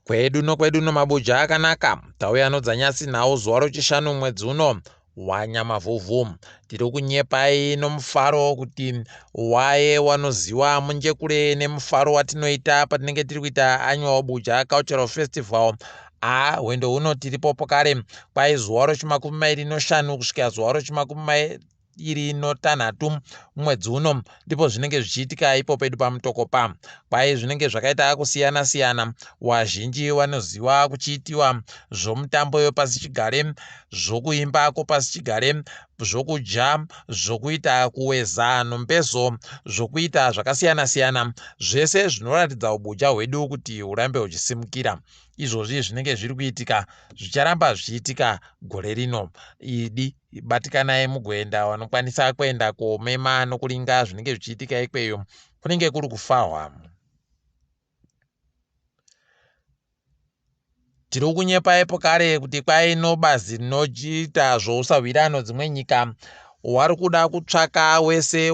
kwedu nokwedu nomabuja akanaka tauya nodzanyasi nhau zuva rochishanu mwedzi uno wanyamavhuvhu tiri kunyepai nomufaro kuti waye wanoziwa munjekure nemufaro watinoita patinenge tiri kuita annual buja cultural festival a hwendo huno tiripopo kare kwai zuva rochimakumi mairi noshanu kusvika zuva rochimakumi iri notanhatu mwedzi uno ndipo zvinenge zvichiitika ipo pedu pamutokopa kwaye zvinenge zvakaita kusiyana siyana wazhinji wanoziva kuchiitiwa zvomutambo yopasi chigare zvokuimba kopasi chigare zvokudya zvokuita kuweza nombezo zvokuita zvakasiyana siyana zvese zvinoratidza ubuja hwedu kuti hurambe huchisimukira izvozvi zvinenge zviri kuitika zvicharamba zvichiitika gore rino idi batikanai mugoenda wanokwanisa kuenda komema nokulinga zvinenge zvichiitika ikweyo kunenge kuri kufahwa tiri kunyepaipo kare kuti kwai nobazi rinochiita zvousahwirano dzimwe nyika wari kuda kutsvaka wese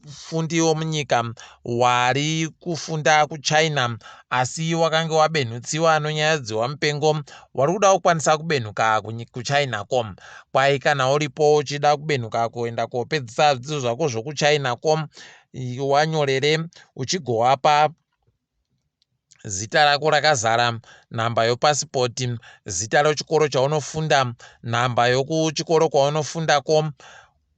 vafundi vomunyika wari kufunda kuchina asi wakange wabenhutsiwa nonyaya dzewamupengo wari kuda kukwanisa kubenhuka kuchina ko kwai kana uripo uchida kubenhuka kuenda kopedzisa zvidzidzo zvako zvokuchina ko wanyorere uchigowapa zita rako rakazara, nhamba yopasipoti, zita rochikoro chaunofunda, nhamba yokuchikoro kwaunofundako,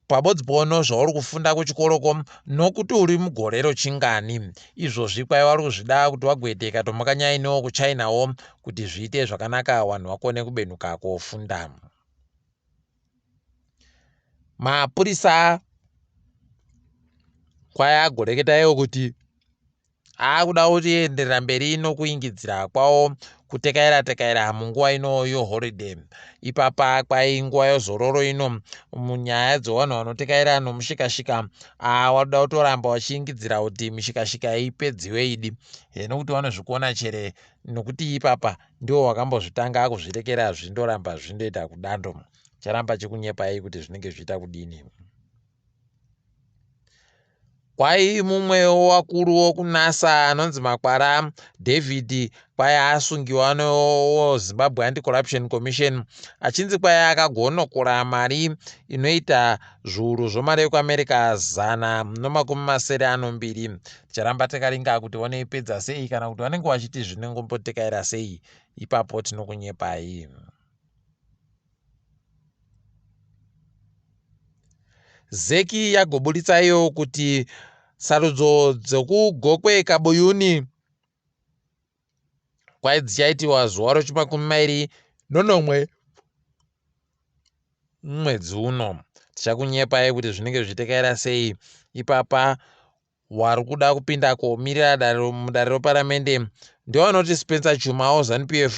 pabodzbono zvauri kufunda kuchikoroko nokuti uri mugorero chingani izvozvi kwaiva uri kuzvida kuti wagoiteka tomukanyainewo kuchinawo kuti zviite zvakanaka vanhu vakone kubenuka kofunda mapurisa kwaya agoreketawo kuti Haa kuda kuti enderera mberi ino kuingidzira kwawo kutekaira tekaira munguva ino yo holiday ipapa kwai nguva yozororo ino munyaya dzevanhu vanotekaira nomushikashika aa wadoda kutoramba wachiingidzira kuti mishikashika ipedziwe idi heno kuti vanozvikuona chere nokuti ipapa ndiwo wakambozvitanga akuzvirekera zvindoramba zvindoita kudando charamba chikunyepai kuti zvinenge zviita kudini Kwai mumwewo wakuru wokunasa anonzi Makwara David kwai asungiwa nezimbabwe anti corruption commission achinzi kwai akagonokora mari inoita zviuru zvomari yekuamerica zana nomakumi masere anombiri ticharamba takaringa kuti vanoipedza sei kana kuti vanenge vachiti zvinengombotekaira sei ipapo tinokunyepai zeki yagoburitsa iyo kuti sarudzo dzekugokwe kabuyuni kwai dzichaitiwa zuva rechimakumi mairi nonomwe mwedzi uno tichakunyepai kuti zvinenge zvichitekaira sei ipapa wari kuda kupinda komirira dare mudare reparamende ndiwo anoti Spencer Chuma woZanu PF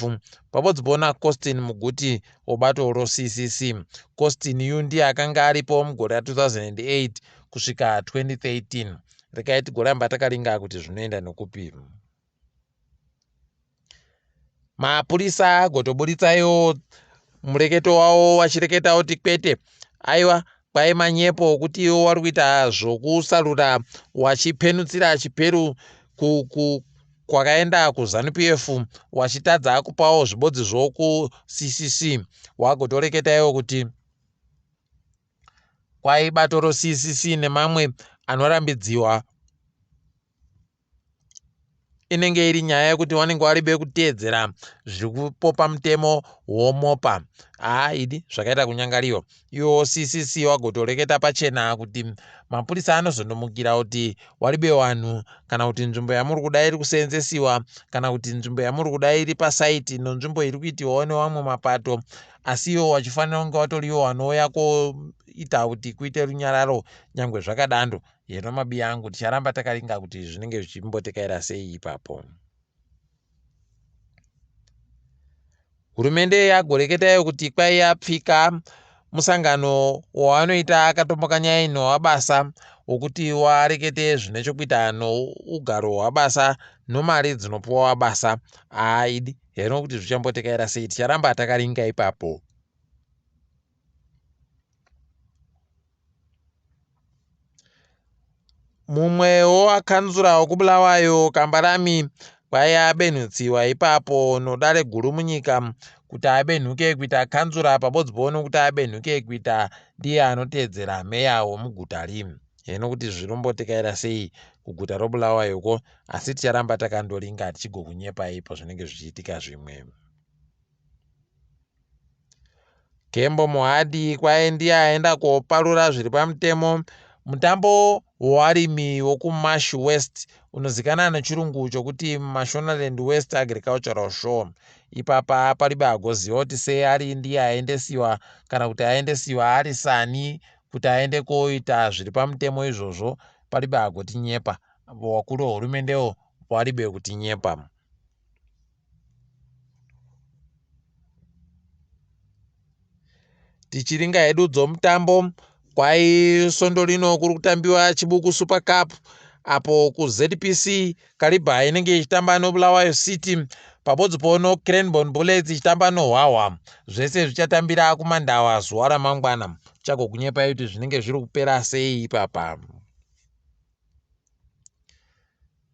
pamwe dzibona Costin Muguti wobato roCCC. Costin yu ndiye akanga aripo mugore ra 2008 kusvika 2013. Rekai tigoramba takalinga kuti zvinoenda nokupi. mapurisa agotoburitsayo mureketo wavo vachireketa kuti kwete aiwa kwai manyepo okuti iwo wari kuita zvokusarura wachipenutsira chiperu kwakaenda kuzanup f wachitadza akupawo zvibodzi zvokuccc wagotoreketa iwo kuti kwai bato roccc nemamwe anorambidziwa inenge iri nyaya yekuti vanenge vari vekuteedzera zviri kupopa mutemo womopa haa idi zvakaita kunyangariwa iwo ccc wagotoreketa pachena kuti mapurisa anozondomukira kuti wari bewanhu kana kuti nzvimbo yamuri kuda iri kuseenzesiwa kana kuti nzvimbo yamuri kuda iri pasaiti no nzvimbo iri kuitiwawo newamwe mapato asi iwo wachifanira kunge watoriwo wanouya koita kuti kuite runyararo nyange zvakadando Heno mabiya angu ticharamba takaringa kuti zvinenge zvichimbotekaira sei ipapo. Hurumende yagoreketa iyo kuti kwai yapfika musangano wavanoita akatomboka nyaya ino wabasa wokuti warekete zvine chokuita nougaro hwabasa nomari dzinopiwa wabasa aidi heno kuti zvichambotekaira sei ticharamba takaringa ipapo. Mumwewo akanzura wokubulawayo kambarami kwaiya abenhutsiwa ipapo nodare guru munyika kuti abenhuke kuita kanzura pabodziboo nokuti abenhuke kuita ndiye anoteedzera meya womuguta ri heno kuti zvirombotikaira sei kuguta robulawayo ko asi ticharamba takandoringa tichigokunyepaipo zvinenge zvichiitika zvimwe Kembo Mohadi kwaye ndiye aenda koparura zviri pamutemo mutambo wewarimi wokuMash West unozikana nechirungu chokuti Mashonaland West Agricultural Show. Ipapa paribe agoziva kuti sei ari ndiye aendesiwa kana kuti aendesiwa ari sani kuti aende koita zviri pamutemo izvozvo paribe agotinyepa. Vakuru vehurumende paribe kutinyepa. tichiringa hedu dzomutambo kwai svondo rino kuri kutambiwa chibuku super cup apo kuzpc kariba inenge ichitamba nobulawayo city pabodzi pono cranbon bullets ichitamba nohwahwa zvese zvichatambira kumandawa zuva ramangwana chakokunyepai kuti zvinenge zviri kupera sei ipapa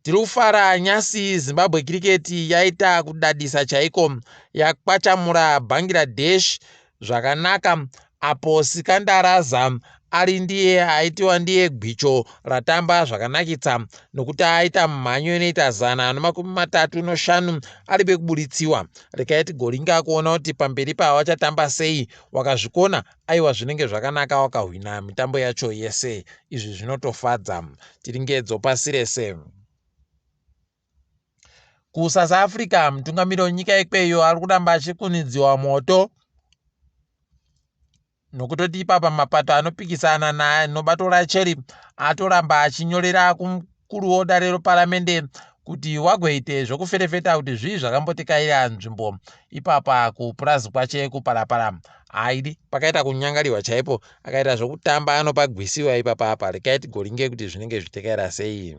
Tiri kufara nyasi Zimbabwe Cricket yaita kudadisa chaiko yakwachamura Bangladesh zvakanaka apo Sikandar Azam ari ndiye aitiwa ndiye gwicho ratamba zvakanakitsa nokuti aita mhanyo inoita zana nemakumi matatu noshanu ari bekubuditsiwa. Rekai tigoringa kuona kuti pamberi pava vachatamba sei wakazvikona Aiwa zvinenge zvakanaka wakahwina mitambo yacho yese izvi zvinotofadza tiringedzo pasi rese kusouth africa mutungamiri wenyika ikweyo ari kuramba achikunidziwa moto nokutoti ipapa mapato anopikisana naye nobato racheri atoramba achinyorera kuruwo dare reparamende kuti wagoite zvokuferefeta kuti zvii zvakambotikaira nzvimbo ipapa kupurazi kwache kuparapara haidi pakaita kunyangariwa chaipo akaita zvokutamba anopa gwisiwa ipapa apa rekai tigoringe kuti zvinenge zvitekaira sei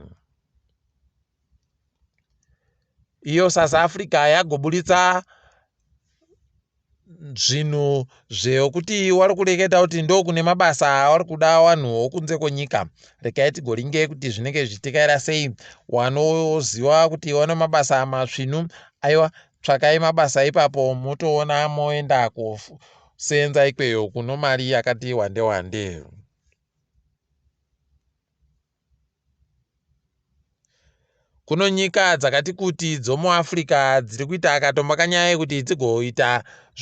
iyo south africa yagoburitsa zvinhu zvekuti wari kureketa kuti ndokune mabasa awari kuda wanhu wokunze kwenyika rekai tigoringe kuti zvinenge zvichitikaira sei wanoziva kuti wane mabasa matsvinu aiwa tsvakai mabasa ipapo motoona moenda kuseenza ikweyo kuno mari yakati wande wande kuno nyika dzakati kuti dzomuafrica dziri kuita akatomba kanyaya yekuti dzigoita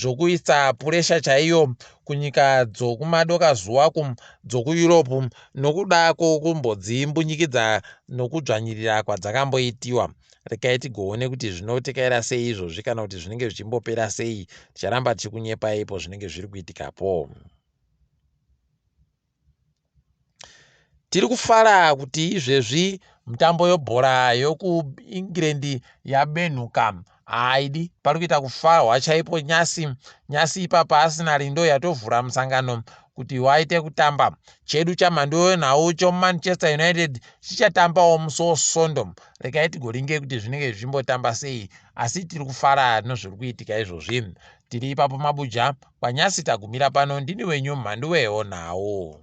zvokuisa puresha chaiyo kunyika dzokumadokazuva ku dzokueurope nokuda kwokumbodzimbunyikidza nokudzvanyirira kwadzakamboitiwa rekai tigoone kuti zvinotekaira sei izvozvi kana kuti zvinenge zvichimbopera sei ticharamba tichikunyepai po zvinenge zviri kuitikapo Tiri kufara kuti izvezvi mitambo yobhora yokuEngland yabenhuka haidi pari kuita kufarwa chaipo nyasi nyasi ipapa arsenal ndo yatovhura musangano kuti waite kutamba chedu chamhando yenhau chomanchester united chichatambawo musi wesondo regai tigoringe kuti zvinenge zvichimbotamba sei asi tiri kufara nezviri kuitika izvozvi Tiri ipapo mabuja kwanyasi tagumira pano ndini wenyu mhandu weho nhau.